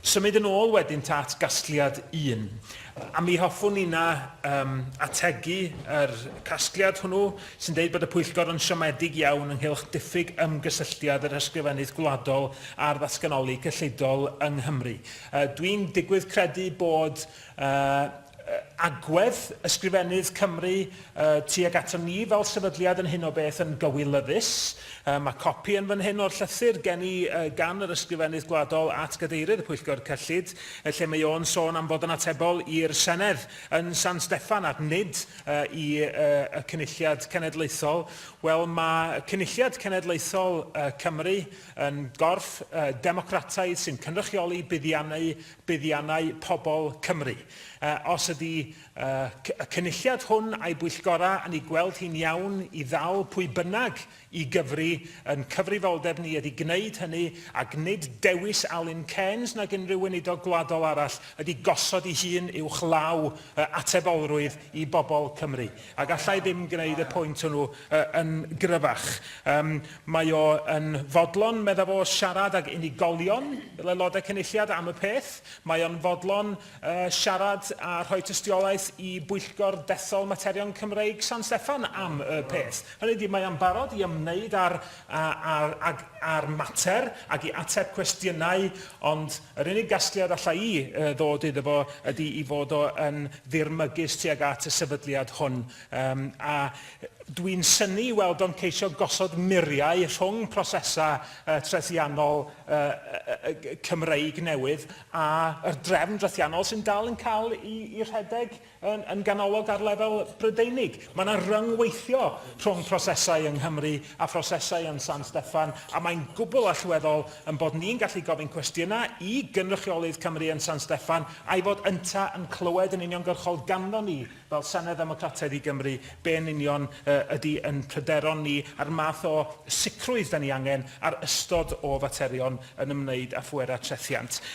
Symud yn ôl wedyn ta at gasgliad un. A mi hoffwn inna um, ategu yr casgliad hwnnw sy'n deud bod y pwyllgor yn siomedig iawn ynghylch diffyg ymgysylltiad yr ysgrifennydd gwladol a'r ddatganoli cyllidol yng Nghymru. Uh, Dwi'n digwydd credu bod uh, agwedd Ysgrifennydd Cymru tuag aton ni fel sefydliad yn hyn o beth yn gywilyddus. Mae copi yn fan hyn o'r llythyr gen i gan yr Ysgrifennydd Gwladol at Gadeirydd y Pwyllgor Cyllid, lle mae o'n sôn am fod yn atebol i'r Senedd yn San Steffan ac nid i y Cynulliad Cenedlaethol. Wel, mae Cynulliad Cenedlaethol Cymru yn gorff democrataidd sy'n cynrychioli buddiannau buddiannau pobl Cymru. Os ydy y Cynulliad hwn a'i bwyllgorau yn ei gweld hi'n iawn i ddal pwy bynnag i gyfri, yn cyfrifoldeb ni ydy gwneud hynny, ac nid dewis Alun Cairns nag unrhyw weinidog gwladol arall ydy gosod ei hun uwchlaw atebolrwydd i bobl Cymru. A galla i ddim gwneud y pwynt hwnnw yn gryfach. Yym, mae o yn fodlon, medda fo, siarad ag unigolion fel Aelodau Cynulliad am y peth. Mae o'n fodlon yy siarad a rhoi tystiolaeth i Bwyllgor Dethol Materion Cymreig San Steffan am y peth. Hynny ydi, mae o'n barod i ymwneud â'r, â, â, â'r mater ac i ateb cwestiynau, ond Yr unig gasgliad alla i ddod iddo fo ydi i fod o yn ddirmygus tuag at y sefydliad hwn, yym, a dwi'n synnu i weld o'n ceisio gosod muriau rhwng prosesau yy trethiannol yy yy Cymreig newydd a'r drefn drethiannol sy'n dal yn cael 'i rhedeg. yn ganolog ar lefel Brydeinig. Mae yna ryngweithio rhwng prosesau yng Nghymru a phrosesau yn San Steffan, a mae'n gwbl allweddol ein bod ni'n gallu gofyn cwestiynau i gynrychiolydd Cymru yn San Steffan a'i fod ynta yn clywed yn uniongyrchol ganddo ni fel Senedd Ddemocrataidd i Gymru be yn union ydy yn pryderon ni a'r math o sicrwydd 'da ni angen ar ystod o faterion yn ymwneud â phwerau trethiant.